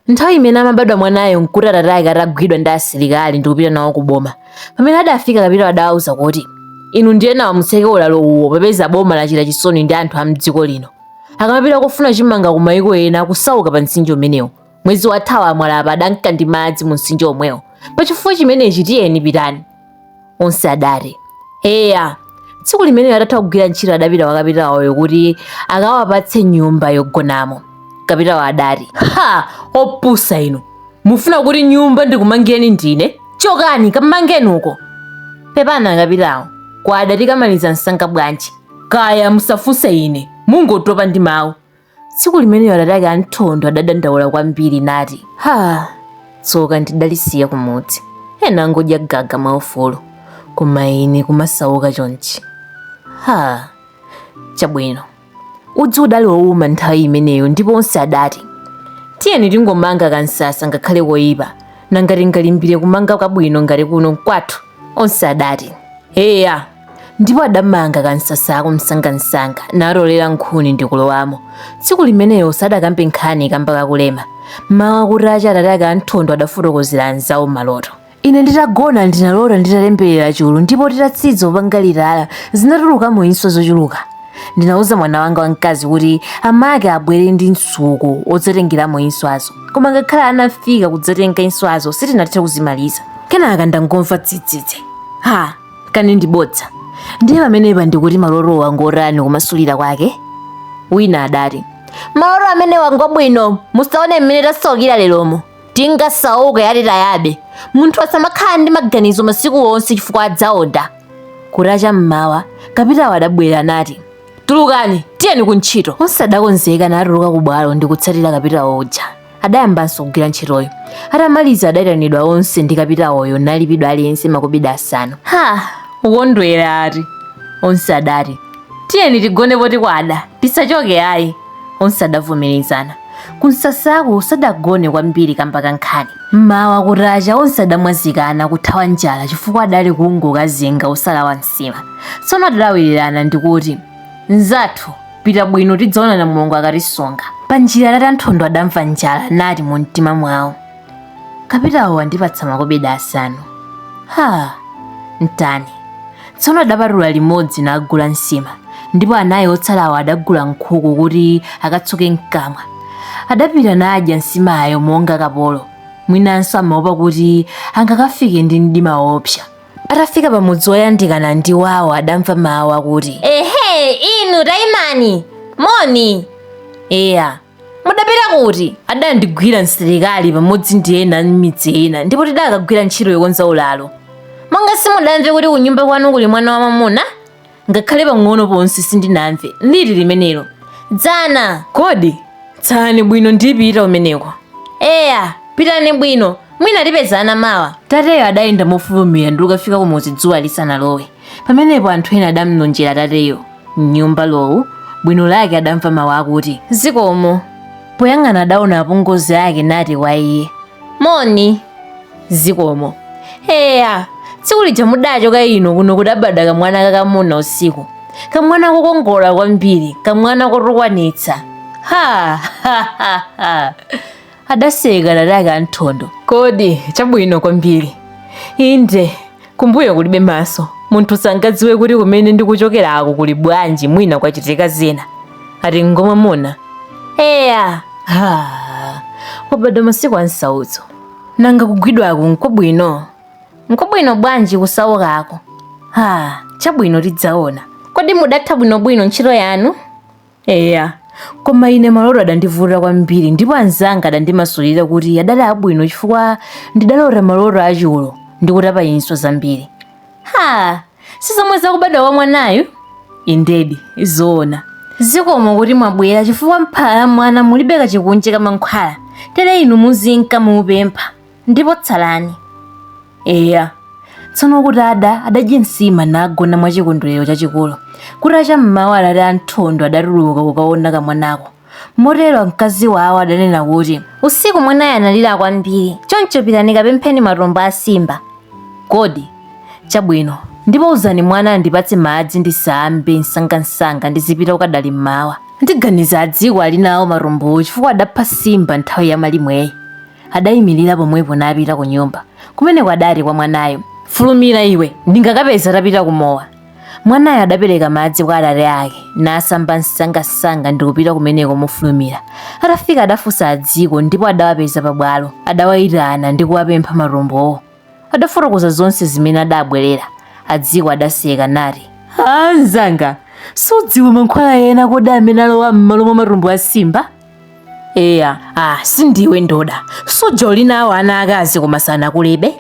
Nthawi imene amabadwa mwanayo n'kuti atate ake atagwidwa ndi asilikali ndi kupita nawo ku boma. Pamene adafika, kapitawo adawauza kuti, Inu ndi enawa mutseke ulalo uwo popeza boma lachita chisoni ndi anthu a m'dziko lino. Akamapita kofuna chimanga ku mayiko ena akusauka pa mtsinje umenewu. Mwezi wathawo amwala apa adanka ndi madzi mu mtsinje womwewo. Pa chifukwa chimenechi tiyeni pitani. onse adati eya tsiku limenelo atatha kugwira ntchito adapita kwa kapitawoyo kuti akawapatse nyumba yogonamo kapitawo adati ha opusa inu mufuna kuti nyumba ndikumangireni ndine chokani kamangeni uko pepani akapitawo kwada tikamaliza msanga bwanji kaya musafunse ine mungotopa ndi mawu tsiku limenelo atate ake a Nthondo adadandaula kwambiri nati, ha tsoka ndidalisiya kumudzi ena angodya gaga mwaufulu koma ine kumasauka chonchi ha chabwino udzu udali wouma nthawi imeneyo ndipo onse adati tiyeni tingomanga kamsasa ngakhale koyipa nanga tingalimbire kumanga kabwino ngati kuno n'kwathu onse adati eya ndipo adamanga kamsasako msangamsanga natolera nkhuni ndi kulowamo tsiku limenelo sadakambe nkhani kamba ka kulema mmawa kutacha atate ake a Nthondo adafotokozera anzawo maloto ine nditagona ndinalota nditalemberera chulu ndipo titatsiza kupanga litala zinatulukamo inswa zochuluka ndinauza mwana wanga wamkazi kuti amake abwere ndi msuko wodzatengeramo inswazo koma ngakhale anafika kudzatenga inswazo sitinathe kuzimaliza kenaka ndangomva dzidzidzi ha kani ndi bodza ndiye pamenepa ndikuti malotowa ngotani kumasulira kwake wina adati maloto amenewa ngabwino musaone mmene tasaukira leromo tingasauke yati tayabe munthu asamakhala ndi maganizo masiku onse chifukwa adzaonda kutacha mmawa kapitawo adabwera nati tulukani tiyeni kuntchito onse adakonzeka natuluka kubwalo ndi kutsatira kapitawo uja adayambanso kugwira ntchitoyo atamaliza adayitanidwa onse ndi kapitawoyo nalipidwa aliyense makobidi asanu ha ukondwera ati onse adati tiyeni tigone poti kwada tisachoke ayi onse adavomerezana kumsasako sadagone kwambiri kamba ka nkhani mmawa kutacha onse adamwazikana kuthawa njala chifukwa adali kungokazinga osalawa nsima tsono adalawirirana ndi kuti mzathu pita bwino tidzaonana mulungu akatisunga pa njira atate a Nthondo adamva njala nati mu mtima mwawo kapitawo wandipatsa makobidi asanu ha ntani tsono adapatula limodzi nagula nsima ndipo anayi otsalawo adagula nkhuku kuti akatsuke mkamwa adapita nadya nsimayo monga kapolo mwinanso amaopa kuti angakafike ndi mdima woopsa atafika pa mudzi woyandikana ndi wawo adamva mawu akuti ehe inu taimani moni eya mudapita kuti adandigwira msilikali pamodzi ndi ena m'midzi ina ndipo tidakagwira ntchito yokonza ulalo monga simudamve kuti kunyumba kwanu kuli mwana wamwamuna ngakhale pang'ono ponse sindinamve liti limenelo dzana kodi tsalani bwino ndipita kumeneko eya pitani bwino mwina tipezana mawa tateyo adayenda mofulumira ndi kukafika kumudzi dzuwa lisanalowe pamenepo anthu ena adamlonjera tateyo mnyumba lowu bwino lake adamva mawu akuti zikomo poyang'ana adaona apongozi ake nati kwa iye moni zikomo eya tsiku lija mudachoka ino kuno kudabadwa kamwana kakamuna usiku kamwana kokongola kwambiri kamwana kotukwanitsa ha ha ha ha adaseka atate ake anthondo kodi chabwino kwambiri inde kumbuyo kulibe maso munthu sangadziwe kuti kumene ndikuchokerako kuli bwanji mwina kwachitika zina ati ngwamwamuna eya ha wabadwa masiku a nsautso Nanga kugwidwako nkwabwino? Nkwabwino bwanji kusaukako? Ha, chabwino tidzaona. Kodi mudatha bwinobwino ntchito yanu? Eya, koma ine maloto adandivuta kwambiri ndipo anzanga adandimasulira kuti adali abwino chifukwa ndidalota maloto achulu ndi kutapa inswa zambiri. Ha, si zomwe zakubadwa kwa mwanayu indedi nzoona zikomo kuti mwabwera chifukwa m'phala la mwana mulibe kachikunje ka mankhwala tere inu muzinka muupempha ndipo tsalani eya tsono kutada adadya nsima nagona mwa chikondwerero chachikulu kutacha mmawa atate anthondo adatuluka kukaona kamwanako Motero mkazi wawo adanena kuti, Usiku mwanayo analira kwambiri, choncho pitani kapempheni matumbo a simba. Kodi? Chabwino. Ndipo uzani mwana andipatse madzi ndisambe msangamsanga ndizipita kukadali mmawa. Ndiganiza adziko ali nawo matumbowo chifukwa adapha simba nthawi ya malimweyi. Adayimirira pomwepo napita kunyumba. Kumeneko adati kwa mwanayo, Fulumira iwe, ndingakapeza atapita kumowa. mwanayo adapereka madzi kwa atate ake nasamba msangamsanga ndi kupita kumeneko mofulumira atafika adafunsa adziko ndipo adawapeza pabwalo adawayitana ndi kuwapempha matumbowo adafotokoza zonse zimene adabwerera adziko adaseka nati a mnzanga sudziwa mankhwala ena kodi amene alowa m'malo mwa matumbo a simba eya ah, sindiwe ndoda suja uli nawo ana akazi koma sanakulebe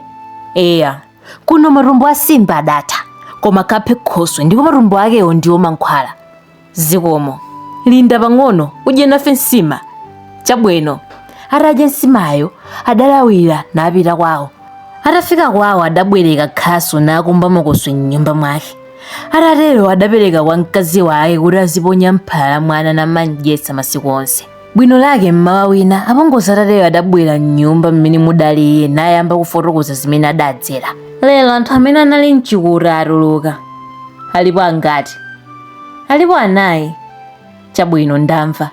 eya kuno matumbo a simba adatha koma kaphe khoswe ndipo matumbo akewo ndiwo mankhwala zikomo linda pang'ono udye nafe nsima chabwino atadya nsimayo adalawira napita kwawo atafika kwawo adabwereka khasu nakumba makoswe m'nyumba mwake atatero adapereka kwa mkazi wake kuti aziponya mphala la mwana namandyetsa masiku onse Bwino lake m'mawa wina apongozi atateyo adabwera m'nyumba mmene mudali iye nayamba kufotokoza zimene adadzera. Lero anthu amene anali mchikuta atuluka. Alipo angati? Alipo anayi. Chabwino ndamva.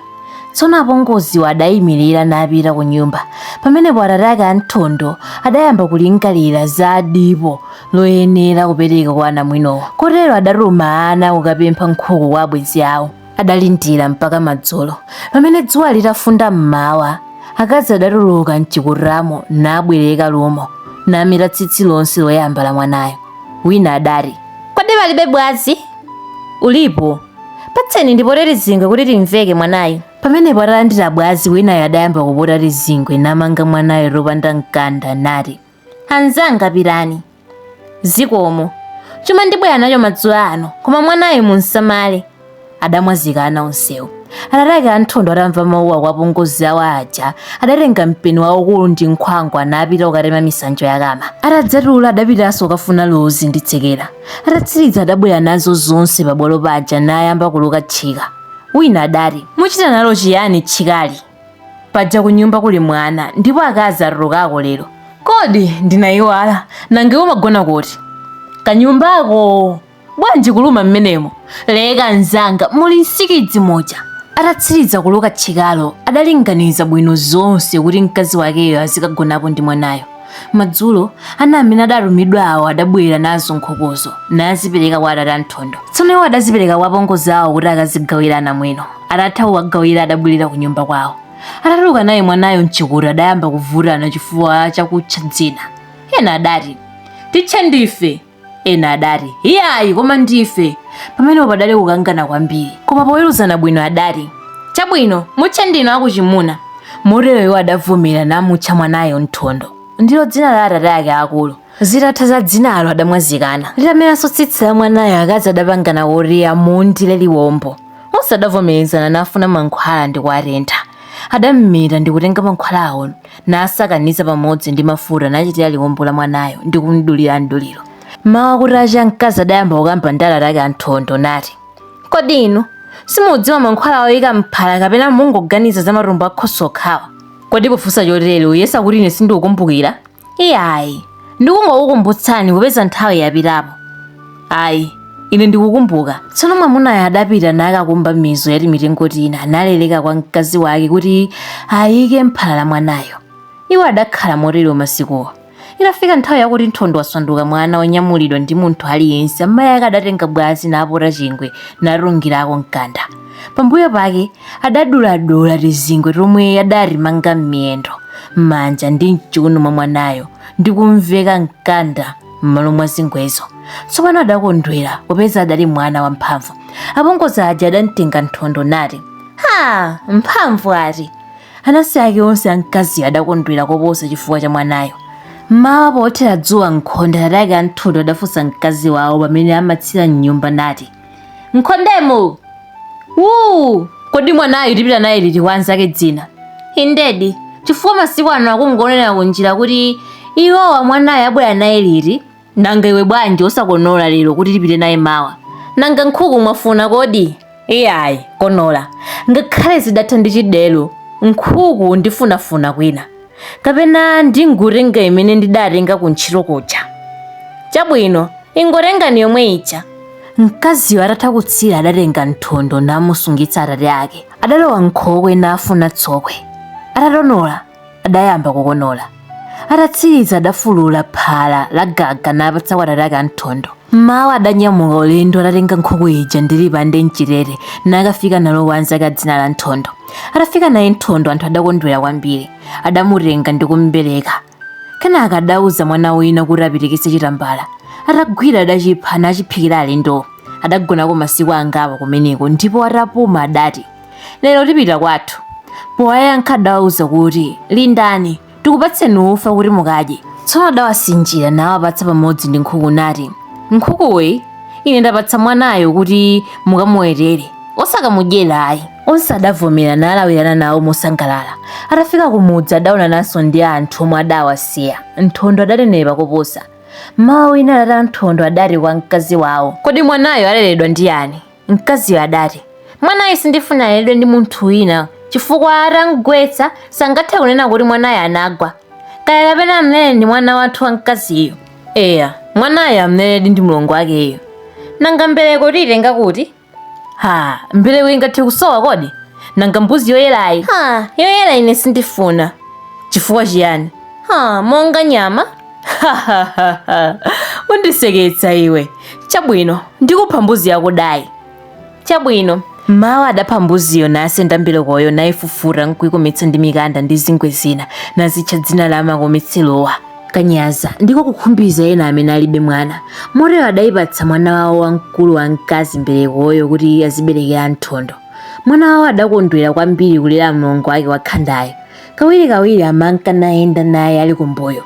Tsono apongoziwo adayimirira napita ku nyumba. Pamenepo atate ake a Nthondo adayamba kulingalira za dipo loyenera kupereka kwa anamwinowo. Kotero adatuma ana kukapempha nkhuku kwa abwenzi awo. adalindira mpaka madzulo pamene dzuwa litafunda mmawa akazi adatuluka mchikutamo nabwereka lumo nameta tsitsi lonse loyamba la mwanayo wina adati kodi palibe bwazi ulipo patseni ndipote tizingwe kuti timveke mwanayo pamenepo atalandira bwazi winayo adayamba kupota tizingwe namanga mwanayo topanda mkanda nati Anzanga pitani. Zikomo. Chuma ndibwera nacho madzulo ano, koma mwanayu mumsamale. Adamwazikana onsewo. Atate ake a Nthondo atamva mawuwa kwa apongozi awo aja, adatenga mpeni waukulu ndi nkhwangwa napita kukatema misanjo ya kama. Atadzatula adapitanso kukafuna luzi ndi tsekera. Atatsiriza adabwera nazo zonse pabwalo paja nayamba kuluka tchika. Wina adati, muchita nalo chiyani tchikali? paja kunyumba kuli mwana ndipo akazi atulukako lero kodi ndinayiwala nanga iwe umagona kuti kanyumbako bwanji kuluma mmenemo leka mzanga muli nsikidzi muja atatsiriza kuluka tchikalo adalinganiza bwino zonse kuti mkazi wakeyo azikagonapo ndi mwanayo Madzulo, ana amene adatumidwa awo adabwera nazo nkhukuzo, nazipereka kwa atate a Nthondo. Tsono iwo adazipereka kwa apongozi awo kuti akazigawire anamwino. Atatha kuwagawira adabwerera kunyumba kwawo. Atatuluka naye mwanayo m'chikuta adayamba kuvutana chifukwa cha kutcha dzina. Ena adati, Titche ndife! ena adati iyayi koma ndife pamenepo padali kukangana kwambiri koma poweruzana bwino adati chabwino mutche ndinu akuchimuna motero iwo adavomera namutcha mwanayo nthondo ndilo dzina la atate ake akulu zitatha za dzinalo adamwazikana litameranso tsitsi la mwanayo akazi adapangana kuti amundire liwombo onse adavomerezana nafuna mankhwala ndi kuwatentha adammeta ndi kutenga mankhwalawo nasakaniza pamodzi ndi mafuta nachitira liwombo la mwanayo ndi kumdulira mduliro mmawa kutacha mkazi adayamba kukamba ndi atate ake anthondo nati kodi inu simudziwa mankhwala oyika mphala kapena mungoganiza za matumbo a khoswe okhawa kodi pofunsa chotere uyesa kuti ine sindikukumbukira iyayi ndikungokukumbutsani kupeza nthawi yapitapo ayi ine ndikukumbuka tsono mwamunayo adapita nakakumba mizu ya timitengo tina napereka kwa mkazi wake kuti ayike mphala la mwanayo iwo adakhala motero masikuwo itafika nthawi yakuti nthondo wasanduka mwana wonyamulidwa ndi munthu aliyense amayi ake adatenga bwazi napota chingwe natungirako mkanda pambuyo pake adaduladula lizingwe lomwe adalimanga m'miyendo m'manja ndi mchiuno mwa mwanayo ndi kumveka mkanda m'malo mwa zingwezo tsopano adakondwera popeza adali mwana wamphamvu apongozi aja adamtenga nthondo nati ha mphamvu ati anansi ake onse amkaziyo adakondwera koposa chifukwa cha mwanayo mmawa pothera dzuwa m'khonde atate ake a nthondo adafunsa mkazi wawo pamene amatsira mnyumba nati Nkhondemo! Wuu! Kodi mwanayu tipita naye liti kwa anzake dzina? Indedi, chifukwa masiku ano akungonena kunjira kuti iwowa mwanayu abwera naye liti? Nanga iwe bwanji osakonola lero kuti tipite naye mawa? Nanga nkhuku mwafuna kodi? Iyayi, konola. Ngakhale zidatha ndi chidelo, nkhuku ndifunafuna kwina. kapena ndingotenga imene ndidatenga kuntchito kuja chabwino ingotengani yomwe ija mkaziyo atatha kutsira adatenga nthondo namusungitsa atate ake adalowa m'nkhokwe nafuna tsokwe atatonola adayamba kukonola atatsiriza adafulula phala la gaga napatsa kwa atate ake anthondo mmawa adanyamuka ulendo atatenga nkhuku ija ndi lipande mchitete nakafika nalo kwa anzake a dzina la nthondo atafika naye Nthondo anthu adakondwera kwambiri adamutenga ndi kumbereka kenaka adauza mwana wina kuti apitikitse chitambala atagwira adachipha nachiphikira alendo adagonako masiku angapo kumeneko ndipo atapuma adati lero tipita kwathu powayankha adawauza kuti lindani tikupatseni ufa kuti mukadye tsono adawasinjira nawapatsa pamodzi ndi nkhuku nati nkhukuyi ine ndapatsa mwanayo kuti mukamuwetere osakamudyera ayi onse adavomera nalawirana nawo mosangalala atafika kumudzi adaonananso ndi anthu omwe adawasiya nthondo adanenepa koposa mmawa wina atate anthondo adati kwa mkazi wawo kodi mwanayo aleredwa ndi yani Mkaziyo adati, Mwanayu sindifuna aleredwe ndi munthu wina, chifukwa atamgwetsa, sangathe kunena kuti mwanayo anagwa. Kaya kapena amlere ndi mwana wathu wamkaziyu. Eya, mwanayo amleredi ndi mlongo wakeyo. Nanga mbereko tiyitenga kuti? Ha, mbereko ingathe kusowa kodi? Nanga mbuzi yoyerayi? Ha, yoyera ine sindifuna. Chifukwa chiyani? Ha, monga nyama? undiseketsa iwe chabwino ndikupha mbuzi yako dayi chabwino mawa adapha mbuziyo nasenda mberekoyo nayifufuta nkuyikometsa ndi mikanda ndi zingwe zina nazitcha dzina la makometserowa kanyaza ndiko kukhumbiza ena amene alibe mwana motero adayipatsa mwana wawo wamkulu wa mkazi mberekoyo kuti aziberekera nthondo mwana wawo adakondwera kwambiri kulera mlongo wake wakhandayo Kawirikawiri amanka nayenda naye ali kumbuyo.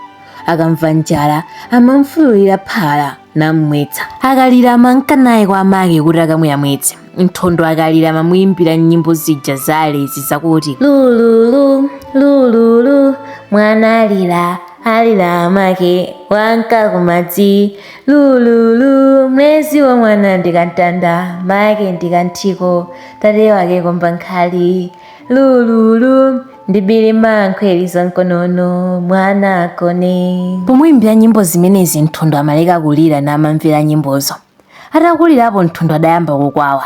Akamva njala, amamfululira phala nammwetsa. Akalira amanka naye kwa amake kuti akamuyamwitse. Nthondo akalira amamuimbira nyimbo zija za alezi zakuti, Lululu, lululu, mwana alira, alira amake, wanka kumadzi. Lululu, mlezi wa mwana ndi kantanda, make ndi kanthiko, tate wake komba nkhali. lululu ndibiri mankhwe liza mkonono mwana agone pomwimbira nyimbo zimenezi nthondo amaleka kulira namamvera nyimbozo atakulirapo nthondo adayamba kukwawa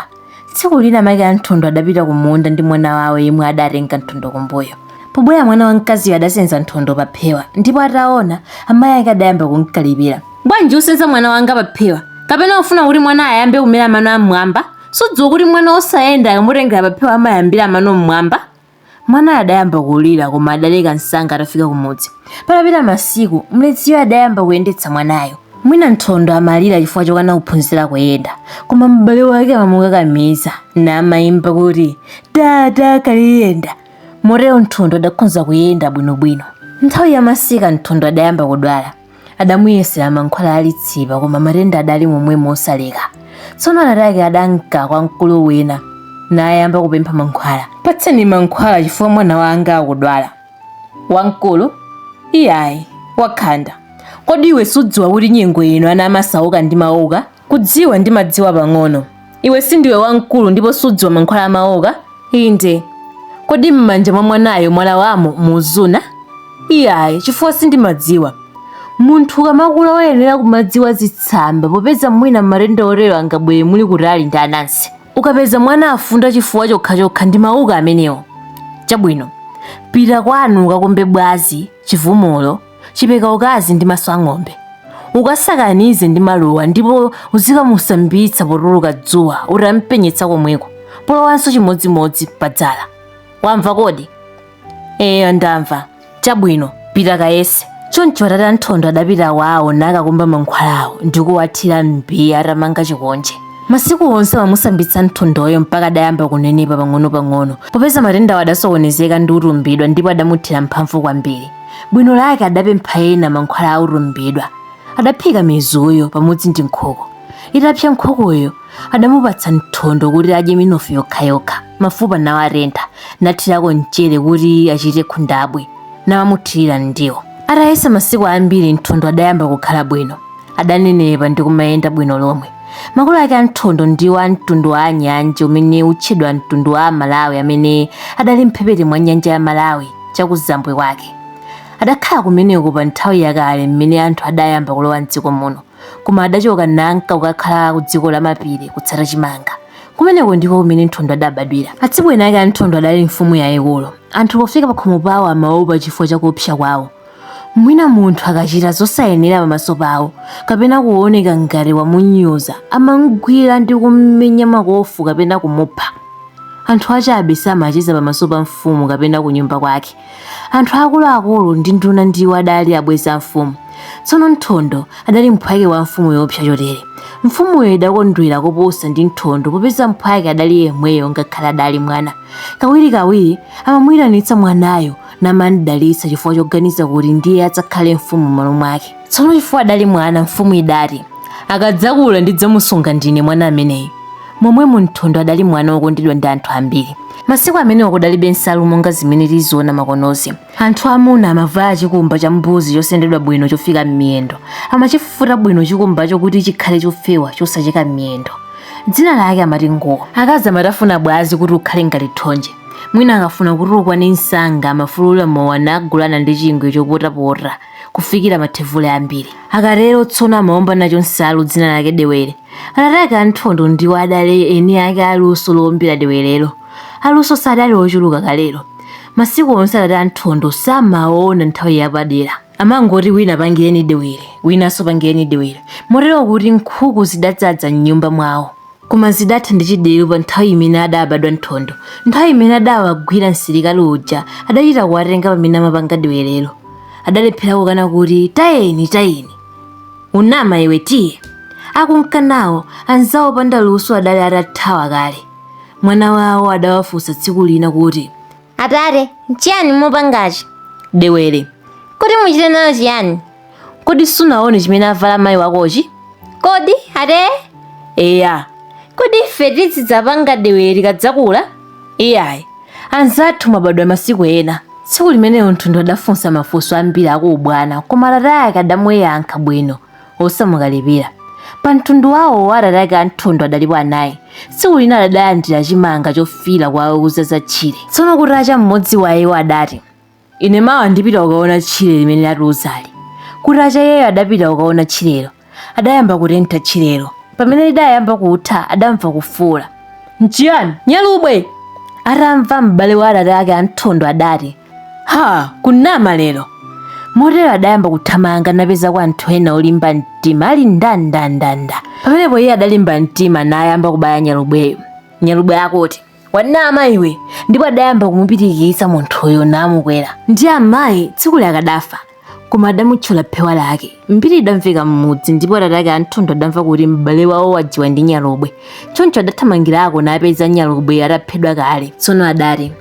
tsiku lina make a nthondo adapita kumunda ndi mwana wawo yemwe adatenga nthondo kumbuyo pobwera mwana wamkaziyo adasenza nthondo paphewa ndipo ataona amayi ake adayamba kumkalipira bwanji usenza mwana wanga paphewa kapena ufuna kuti mwana ayambe kumera mano am'mwamba Sudziwa kuti mwana wosayenda akamutengera paphewa amayambira mano m'mwamba? Mwanayo adayamba kulira koma adaleka msanga atafika kumudzi. Patapita masiku, mleziyo adayamba kuyendetsa mwanayo. Mwina Nthondo amalira chifukwa chokana kuphunzira kuyenda, koma m'bale wake amamukakamiza, namaimba kuti, Tata, kaliyenda! Motero Nthondo adakhonza kuyenda bwinobwino. Nthawi ya masika Nthondo adayamba kudwala. adamuyesera mankhwala a litsipa koma matenda adali momwemo osaleka tsono atate ake adanka kwa mkulu wina nayamba kupempha mankhwala patseni mankhwala chifukwa mwana wanga akudwala wamkulu iyayi wakhanda kodi iwe sudziwa kuti nyengo ino ana amasauka ndi mauka kudziwa ndimadziwa pang'ono Iwe sindiwe wamkulu ndipo sudziwa mankhwala a mawuka? Inde. Kodi m'manja mwa mwanayo mwalawamo muzuna? Iyayi, chifukwa sindimadziwa. Munthu ukamakula woyenera kumadziwa zitsamba popeza mwina matenda otero angabwere muli kutali ndi anansi. Ukapeza mwana afunda chifukwa chokhachokha ndi mawuka amenewo. Chabwino, pita kwanu ukakumbe bwazi, chivumulo, chipeka ukazi ndi maso ang'ombe ukasakanize ndi maluwa ndipo uzikamusambitsa potuluka dzuwa utampenyetsa komweko polowanso chimodzimodzi padzala wamva kodi eya ndamva chabwino pita kayese choncho atate a nthondo adapita kwawo nakakumba mankhwalawo ndikuwathira mbiya atamanga chikonje masiku onse amamusambitsa nthondoyo mpaka adayamba kunenepa pang'ono-pang'ono popeza matendawo adasokonezeka ndi utumbidwa ndipo adamuthera mphamvu kwambiri bwino lake adapempha ena mankhwala a utumbidwa adaphika mizuyo pamodzi ndi nkhuku itapsa nkhukuyo adamupatsa mthondo kuti adye minofu yokhayokha mafupa nawatentha nathirako mchere kuti achite khundabwi namamuthirira m'ndiwo atayesa masiku ambiri mthondo adayamba kukhala bwino adanenepa ndi kumayenda bwino lomwe makolo ake a mthondo ndiwo a mtundu wa anyanja umene utchedwa mtundu wa amalawi amene adali mphepete mwa nyanja ya malawi chakuzambwe kwake adakhala kumeneko pa nthawi yakale mmene anthu adayamba kulowa mdziko muno koma adachoka nanka kukakhala ku dziko la mapiri kutsata chimanga kumeneko ndiko kumene nthondo adabadwira atsibweni ake a nthondo adali mfumu yayikulu anthu pofika pakhomo pawo amaopa chifukwa chakuopsa kwawo Mwina munthu akachita zosayenera pamaso pawo kapena kuoneka ngati wamunyoza, amamgwira ndi kummenya makofu kapena kumupha. Anthu achabe samacheza pamaso pa mfumu kapena kunyumba kwake. Anthu akuluakulu ndi nduna ndiwo adali abwenzi a mfumu. Tsono Nthondo adali mphwake wa mfumu yoopsa chotere. Mfumuyo idakondwera koposa ndi Nthondo popeza mphwake adali yemweyo ngakhale adali mwana. Kawirikawiri amamuitanitsa mwanayo namandidalitsa chifukwa choganiza kuti ndiye adzakhale mfumu m'malo mwake tsono chifukwa adali mwana mfumu idati akadzakula ndidzamusunga ndine mwana ameneyu momwemo mthondo adali mwana wokondedwa ndi anthu ambiri masiku amenewo kudalibe nsalu monga zimene tiziona makonozi anthu amuna amavala chikumba cha mbuzi chosendedwa bwino chofika m'miyendo amachifufuta bwino chikumbacho kuti chikhale chofewa chosacheka m'miyendo dzina lake amati nguwo akazi amatafuna bwazi kuti ukhale ngati thonje Mwina akafuna kuti ukwane msanga amafulula mowa nagulana ndi chingwe chopotapota kufikira mathevule ambiri. Akatero tsono amaomba nacho nsalu dzina lake dewere. Atate ake a Nthondo ndiwo adali eni ake a luso loombera dewerero. Aluso sadali ochuluka kalelo. Masiku onse atate a Nthondo samaona nthawi yapadera. amangoti wina pangireni dewere winanso pangireni dewere motero kuti nkhuku zidadzaza m'nyumba mwawo koma zidatha ndi chideru pa nthawi imene adabadwa nthondo nthawi imene adawagwira msilikali uja adachita kuwatenga pamene amapanga dewerero adalephera kukana kuti tayeni tayeni unama iwe tiye akunka nawo anzawo opanda luso adali atathawa kale mwana wawo adawafunsa tsiku lina kuti atate nchiyani mupangachi dewere kuti muchite nayo chiyani kodi sunaone chimene avala mayi wakochi kodi ate eya kodi ife tizidzapanga dewere tikadzakula iyayi anzathu mabadwa masiku ena tsiku limenelo mthondo adafunsa mafunso ambiri akuubwana koma atate ake adamuyankha bwino osamukalipira pa mtundu wawo wa atate ake a nthondo adalipo anayi tsiku lina adalandira chimanga chofiira kuwauza za tchire tsono kuti acha mmodzi wa iwo adati ine mawa ndipita kukaona tchire limene latiuzali kuti acha iyeyo adapita kukaona tchirelo adayamba kutentha tchirelo pamene lidayamba kutha adamva kufuula nchiyani nyalubwe atamva m'bale wa atate ake a nthondo adati ha kunama lero motero adayamba kuthamanga napezako anthu ena olimba mtima ali ndandandanda pamenepo iye adalimba mtima nayamba kubaya nyalubweyo nyalubwe akuti wanama iwe ndipo adayamba kumupitikitsa munthuyo namukwera ndi amayi tsikulo akadafa koma adamutchola phewa lake mbiri idamveka m'mudzi ndipo atate ake a nthondo adamva kuti m'bale wawo wajiwa ndi nyalubwe choncho adathamangirako napeza nyalubwe ataphedwa kale tsono adati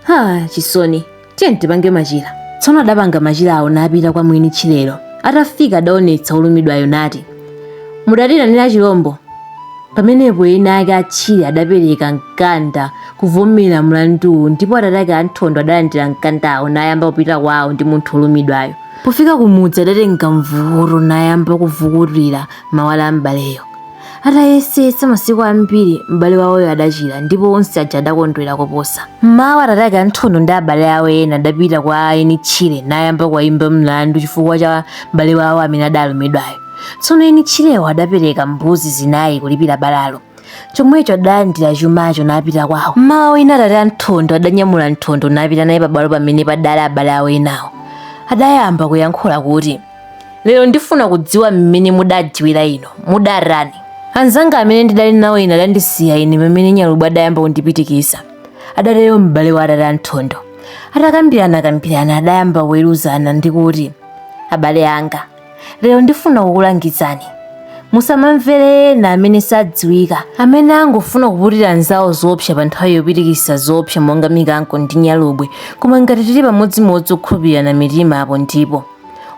ha chisoni tiyeni tipange machira tsono adapanga machirawo napita kwa mwini tchirelo atafika adaonetsa olumidwayo nati mudatiitanira chilombo pamenepo eni ake a tchire adapereka mkanda kuvomera mlanduwo ndipo atate ake a nthondo adalandira mkandawo nayamba kupita kwawo ndi munthu olumidwayo pofika kumudzi adatenga mvukuto nayamba kuvukutira mabala a m'baleyo Atayesetsa masiku ambiri, m'bale wawoyo adachira, ndipo onse aja adakondwera koposa. M'mawa atate ake a Nthondo ndi abale awo ena adapita kwa eni tchire nayamba kuwaimba mlandu chifukwa cha mbale wawo amene adaalumidwayo. Tsono eni tchirewo adapereka mbuzi zinai kulipira balalo. Chomwecho adalandira chumacho napita kwawo. M'mawa wina atate a Nthondo adanyamula Nthondo napita naye pabwalo pamene padaali abale awo enawo. Adayamba kuyankhula kuti. lero ndifuna kudziwa mmene mudadziwira inu mudatani anzanga amene ndidali nawo ine adandisiya ine pamene nyalubwe adayamba kundipitikitsa adatero m'bale wa atate a nthondo atakambirana kambirana adayamba kuweruzana ndi kuti abale anga lero ndifuna kukulangizani musamamvere ena amene sadziwika amene angofuna kuputira anzawo zoopsa pa nthawi yopitikitsa zoopsa monga mikango ndi nyalubwe koma ngati tili pamodzimodzi okhulupirirana mitima apo ndipo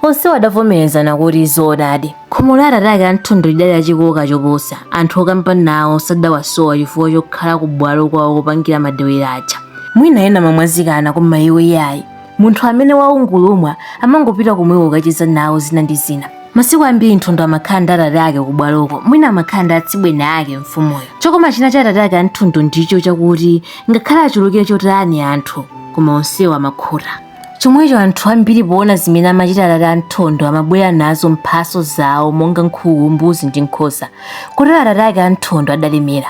onsewo adavomerezana kuti zoonadi khomo la atate ake a nthondo lidali lachikoka choposa anthu okamba nawo sadawasowa chifukwa chokhala ku bwalo kwawo kopangira madewera aja mwina ena amamwazikana koma iwo iyayi munthu amene waungulumwa amangopita komweko kukacheza nawo zina ndi zina masiku ambiri nthondo amakhala ndi atate ake ku bwaloko mwina amakhala ndi atsibweni ake mfumuyo chokoma china cha atate ake a nthondo ndicho chakuti ngakhale achulukire chotani anthu koma onsewo amakhuta chomwecho anthu ambiri poona zimene amachita atate a Nthondo amabwera nazo mphatso zawo monga nkhuku, mbuzi ndi nkhosa. Kotero atate ake a Nthondo adalemera.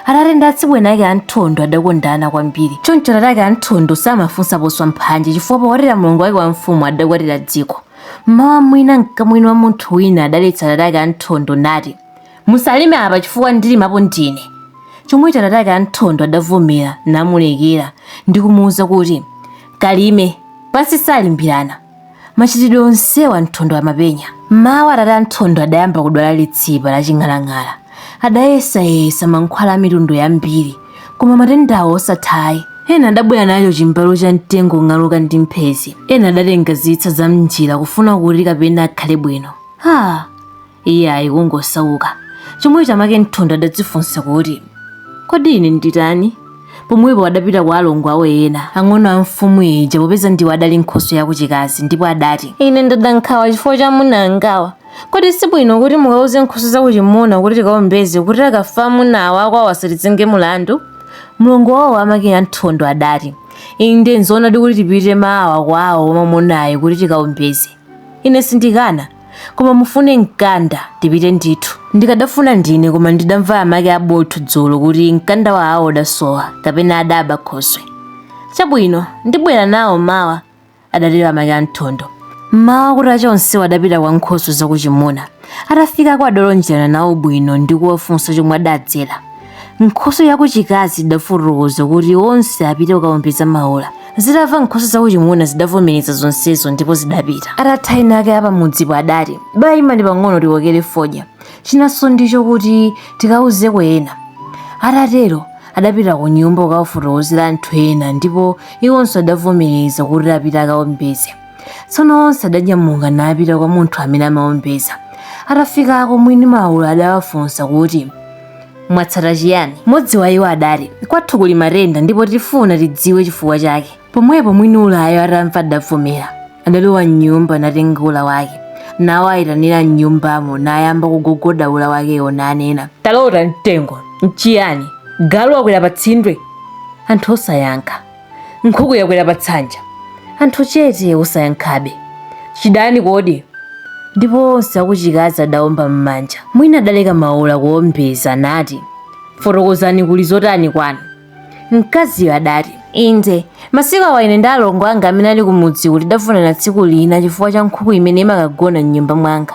Atate ndi atsibweni ake a Nthondo adakondana kwambiri. Choncho atate ake a Nthondo samafunsa poswa mphanje chifukwa pokwatira mlongo wake wa mfumu adakwatira dziko. Mmawa mwina mkamwini wa munthu wina adaletsa atate ake a Nthondo nati, Musalime apa chifukwa ndilimapo ndine. Chomwecho atate ake a Nthondo adavomera namulekera ndi kumuuza kuti, Kalime, pansi salimbirana. Machitidwe onsewa Nthondo amapenya. M'mawa atate a Nthondo adayamba kudwala litsipa laching'alang'ala. Adayesayesa mankhwala a mitundu yambiri, koma matendawo osatha ayi. Ena adabwera nacho chimbalu cha mtengo wong'aluka ndi mphezi. Ena adatenga zitsa zam'njira kufuna kuti kapena akhale bwino. Ha! iye ayi kungosauka chomwecho amake a nthondo adadzifunsa kuti kodi ine nditani pomwepo adapita kwa alongo awo ena ang'ono a mfumu ija popeza ndiwo adali nkhoswe yakuchikazi ndipo adati ine ndada nkhawa chifukwa cha amuna angawa kodi si bwino kuti mukauze nkhoswe zakuchimuna kuti tikaombeze kuti akafa amunawa akwawo asatizenge mulandu mlongo wawo amake a nthondo adati inde nzoonadi kuti tipite mawa kwawo mwamunayo kuti tikaombeze Ine sindikana, koma mufune mkanda tipite ndithu. Ndikadafuna ndine koma ndidamva amake a Botho dzulo kuti mkanda wawo udasowa kapena adaba khoswe. Chabwino, ndibwera nawo mawa, adatero amake a Nthondo. M'mawa kutacha onsewo adapita kwa nkhoswe zakuchimuna. Atafikako adalonjerana nawo bwino ndi kuwafunsa chomwe adadzera. nkhoswe yakuchikazi idafotokoza kuti onse apite kukawombeza maula zitamva nkhoswe zakuchimuna zidavomereza zonsezo ndipo zidapita atatha ena ake apamudzipo adati bayimani pang'ono tikokere fodya chinanso ndicho kuti tikauzeko ena atatero adapita ku nyumba kukafotokozera anthu ena ndipo iwonso adavomereza kuti apite akawombeze tsono onse adanyamuka napita kwa munthu amene amawombeza atafikako mwini maula adawafunsa kuti mwatsata chiyani mmodzi wa iwo adati kwathu kuli matenda ndipo tifuna tidziwe chifukwa chake pomwepo mwini ulayo atamva adavomera adalowa mnyumba natenga ula wake nawayitanira mnyumbamo nayamba kugogoda ula wakewo nanena talota mtengo nchiyani galu wakwera pa tsindwe anthu osayankha nkhuku yakwera pa tsanja anthu chete osayankhabe chidani kodi ndipo onse akuchikazi adaomba m'manja mwini adaleka maula kuombeza nati fotokozani kuli zotani kwanu mkaziyo adati inde masiku awa ine ndi alongo anga amene ali kumudziku tidafunana tsiku lina chifukwa cha nkhuku imene imakagona m'nyumba mwanga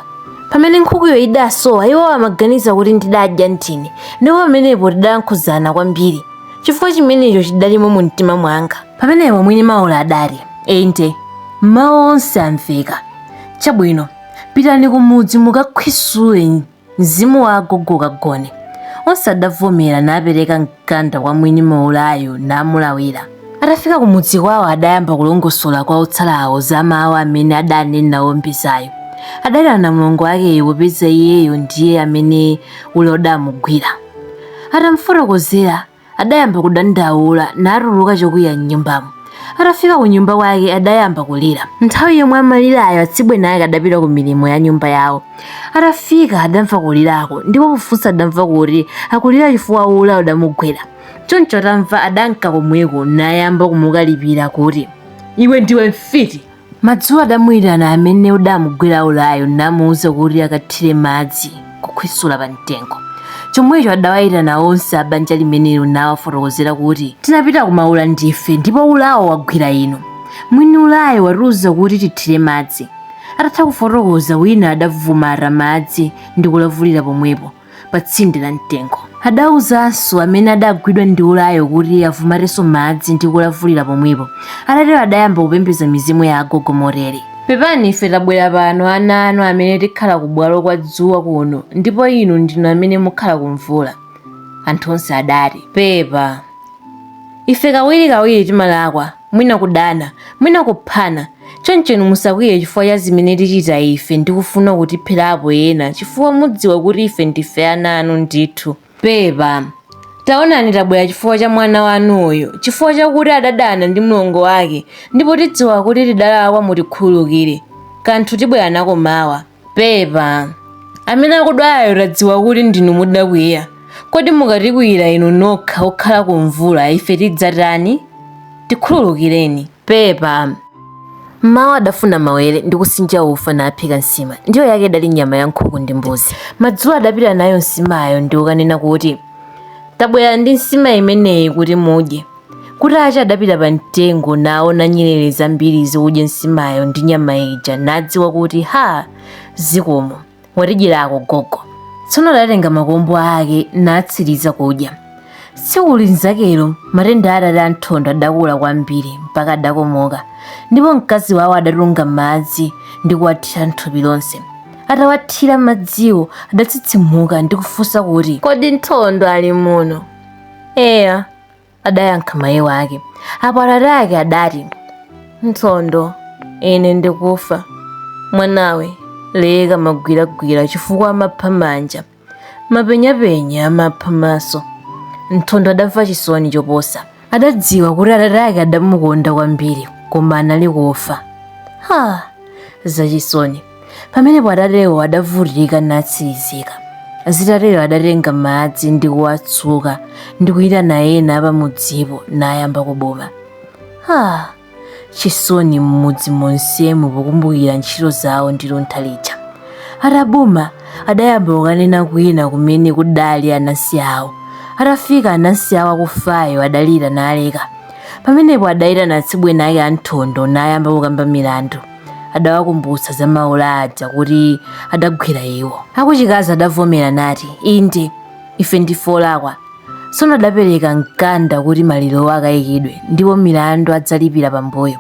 pamene nkhukuyo idasowa iwo amaganiza kuti ndidadya ndine ndipo pamenepo tidalankhuzana kwambiri chifukwa chimenecho chidalimo mu mtima mwanga pamenepo mwini maula adati inde mawu onse amveka chabwino pitani kumudzi mukakhwisule mzimu wa agogo kagone onse adavomera napereka mkanda kwa mwini maulayo namulawira atafika kumudzi kwawo adayamba kulongosola kwa otsalawo za mawu amene adanena wombezayo adati ndi mlongo akeyo popeza iyeyo ndiye amene ula udamugwira Atamufotokozera, adayamba kudandaula natuluka chokwiya m'nyumbamo. Atafika kunyumba kwake adayamba kulira. Nthawi yomwe amalirayo atsibweni ake adapita ku milimo ya nyumba yawo. Atafika adamva kulirako ndipo pofunsa adamva kuti akulira chifukwa ula udamugwira. Choncho atamva adanka komweko nayamba kumukalipira kuti, Iwe ndiwe mfiti! Madzulo adamuitana amene udamugwira ulayo namuuza kuti akathire madzi kukhwisula pa mtengo. Chomwecho adawaitana onse a banja limenelo nawafotokozera kuti, Tinapita ku maula ndife ndipo ulawo wagwira inu. Mwini ulayo watiuza kuti tithire madzi. Atatha kufotokoza, wina adavumata madzi ndi kulavulira pomwepo. pa tsinde la mtengo adauzanso amene adagwidwa ndi ulayo kuti avumatenso madzi ndi kulavulira pomwepo atatero adayamba kupembedza mizimu ya agogo motere pepani ife tabwera pano ana anu amene tikhala kubwalo kwa dzuwa kuno ndipo inu ndinu amene mukhala kumvula anthu onse adati pepa ife kawirikawiri timalakwa mwina kudana, mwina kuphana. Choncho inu musakwiye chifukwa cha zimene tichita ife ndi kufuna kutipherapo ena, chifukwa mudziwa kuti ife ndife ana anu ndithu. Pepa. Taonani tabwera chifukwa cha mwana wanu uyu, chifukwa chakuti adadana ndi mlongo wake, ndipo tidziwa kuti tidalakwa mutikhululukire. Kanthu tibwera nako mawa. pepa amene akudwalayo tadziwa kuti ndinu mudakwiya kodi mukatikwiyira inu nokha okhala ku mvula ife tidzatani tikhululukireni pepa mmawa adafuna mawere ndi kusinja ufa naphika nsima ndiwo yake idali nyama ya nkhuku ndi mbuzi madzulo adapita nayo nsimayo ndi kukanena kuti tabwera ndi nsima imeneyi kuti mudye Kutacha adapita pa mtengo naona nyerere zambiri zikudya nsimayo ndi nyama ija nadziwa kuti ha zikomo watidyerako gogo. Tsono adatenga makombo ake natsiriza kudya. Tsiku linzakelo matenda a atate a Nthondo adakula kwambiri mpaka adakomoka ndipo mkazi wawo adatunga madzi ndi kuwathira m'thupi lonse. Atawathira madziwo adatsitsimuka ndi kufunsa kuti, Kodi Nthondo ali muno? Eya, adayankha mayi wake apo atate ake adati nthondo ine ndikufa mwanawe leka magwiragwira chifukwa amapha manja mapenyapenya amapha maso nthondo adamva chisoni choposa adadziwa kuti atate ake adamukonda kwambiri koma anali kufa ha zachisoni pamenepo atatewo adavutika natsirizika zitatero adatenga madzi ndi kuwatsuka ndi kuyitana ena pamudzipo nayamba kubuma ha chisoni m'mudzi monsemu pokumbukira ntchito zawo ndi luntha lija atabuma adayamba kukanena kwina kumene kudali anansi awo atafika anansi awo akufayo adalira naleka pamenepo adayitana atsibweni ake a nthondo nayamba kukamba milandu adawakumbutsa za maula aja kuti adagwira iwo akuchikazi adavomera nati inde ife ndife olakwa tsono adapereka mkanda kuti malirowo akayikidwe ndipo milandu adzalipira pambuyo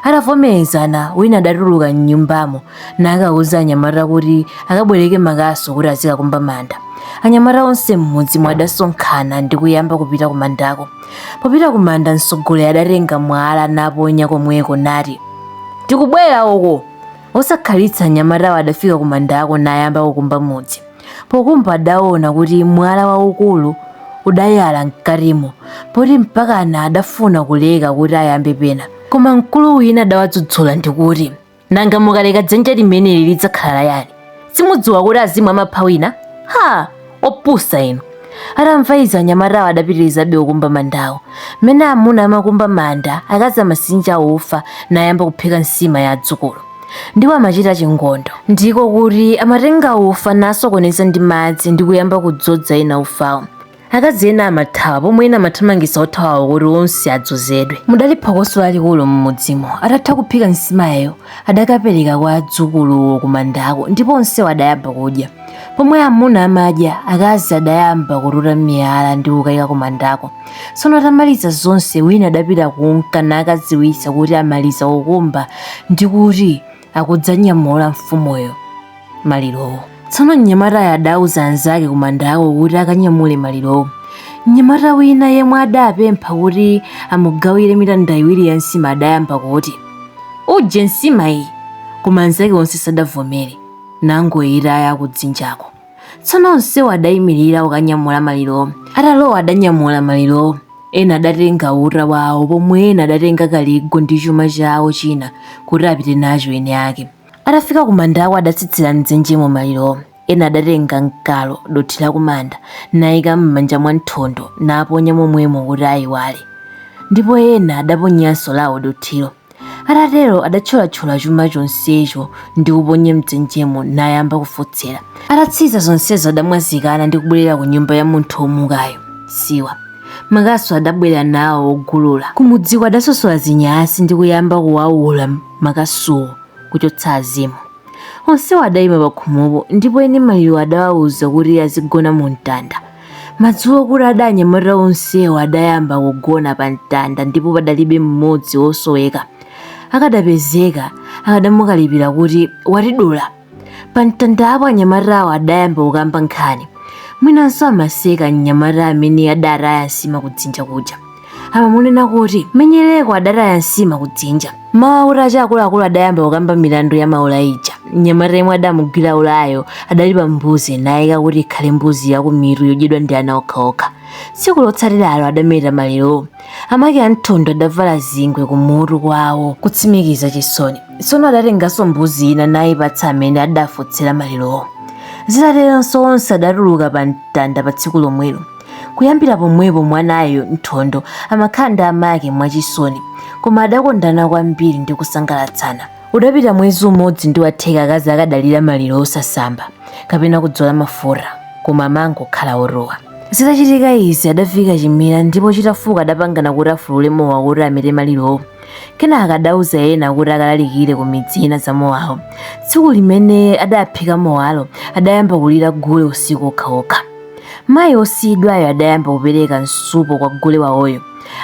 atavomerezana wina adatuluka m'nyumbamo nakauza anyamata kuti akabwereke makasu kuti azikakumba manda anyamata onse m'mudzimo adasonkhana ndi kuyamba kupita kumandako Popita kumanda mtsogoleri adatenga mwala naponya komweko nati, Tikubwera uko! Osakhalitsa anyamatawo adafika kumandako nayamba kukumba mudzi. Pokumba adaona kuti mwala waukulu udayala mkatimo poti mpakana adafuna kuleka kuti ayambe pena. Koma mkulu wina adawadzudzula ndikuti, nanga mukaleka dzenje limeneli lidzakhala la yani simudziwa kuti azimu amapha wina ha opusa inu atamva izi anyamatawo adapitirizabe kukumba mandawo mmene amuna amakumba manda akazi amasinja ufa nayamba kuphika nsima ya adzukulu ndipo amachita chingondo ndiko kuti amatenga ufa nasokoneza ndi madzi ndi kuyamba kudzodza ena ufawo akazi ena amathawa pomwe ena amathamangitsa othawawo kuti onse adzozedwe mudali phokoso lalikulu m'mudzimo atatha kuphika nsimayo adakapereka kwa adzukuluwo kumandako ndipo onsewo adayamba kudya pomwe amuna amadya akazi adayamba kututa miyala ndi kukayika kumandako tsono atamaliza zonse wina adapita kunka nakadziwitsa kuti amaliza kukumba ndi kuti akudzanyamula mfumuyo malirowo tsono mnyamatayo adauza anzake kumandako kuti akanyamule malirowo mnyamata wina yemwe adapempha kuti amugawire mitanda iwiri ya nsima adayamba kuti uje nsima iyi koma anzake onse sadavomere nangoyitaya kudzinjako tsono onsewo adayimirira kukanyamula malirowo atalowa adanyamula malirowo ena adatenga uta wawo pomwe ena adatenga kaligo ndi chuma chawo china kuti apite nacho ene ake atafika kumandako adatsitsira mdzenjemo malirowo ena adatenga mkalo dothi la kumanda nayika m'manja mwa nthondo naponya momwemo kuti ayiwale ndipo ena adaponyanso lawo dothilo atatero adatcholatchola chuma chonsecho ndi kuponya mdzenjemo nayamba kufotsera atatsiza zonsezo adamwazikana ndi kubwerera ku nyumba ya munthu womukayo siwa makasu adabwera nawo ogulula kumudziko adasosola zinyasi ndi kuyamba kuwawula makasuwo kuchotsa azimu onsewo adayima pakhomopo ndipo eni maliro adawawuza kuti azigona mu mtanda Madzulo kutada anyamata onsewo adayamba kugona pa mtanda ndipo padalibe mmodzi wosoweka. Akadapezeka, akadamukalipira kuti watidula. Pa mtandapo anyamatawo adayamba kukamba nkhani. Mwinanso amaseka mnyamata amene adataya nsima kudzinja kuja. amamunena kuti menyereko adataya nsima kudzinja mawa kutacha akuluakulu adayamba kukamba milandu ya maula ija mnyamata yemwe adamugwira ulayo adalipa mbuzi nayika kuti ikhale mbuzi ya kumitu yodyedwa ndi ana okhaokha tsiku lotsatiralo adameta malirowo amake anthondo adavala zingwe kumutu kwawo kutsimikiza chisoni tsono adatenganso mbuzi ina nayipatsa amene adafotsera malirowo zitateronso onse adatuluka pa mtanda pa tsiku lomwelo kuyambira pomwepo mwanayo Nthondo amakhala ndi amake mwachisoni koma adakondana kwambiri ndi kusangalatsana udapita mwezi umodzi ndi watheka akazi akadalira maliro osasamba kapena kudzola mafuta koma amangokhala otuwa zitachitika izi adavika chimera ndipo chitafuka adapangana kuti afulule mowa kuti amete malirowo kenaka adauza ena kuti akalalikire ku midzi ina za mowawo tsiku limene adaphika mowalo adayamba kulira gule usiku okhaokha Mayi wosiyidwayo adayamba kupereka msupo kwa gule waoyo.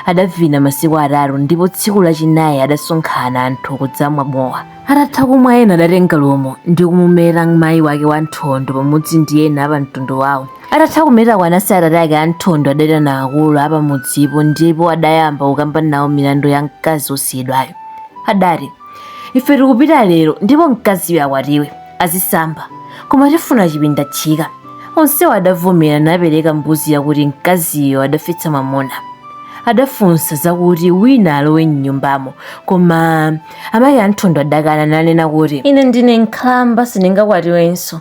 Adavina masiku atatu ndipo tsiku lachinayi adasonkhana anthu kudzamwa mowa. Atatha kumwa ena adatenga lumo ndi kumumeta mayi wake wa Nthondo pamodzi ndi ena apamtundu wao. Atatha kumetako anansi a atate ake a Nthondo adaitana akulu apamudzipo ndipo adayamba kukamba nawo milandu ya mkazi wosiyidwayo. Adati, Ife tikupita lero ndipo mkaziyu akwatiwe. azisamba koma tifuna chipindatchika onsewo adavomera napereka mbuzi yakuti mkaziyo adafetsa mwamuna adafunsa zakuti wina alowe mnyumbamo koma amayi anthondo adakana nanena kuti ine ndine nkhalamba sindingakwatiwenso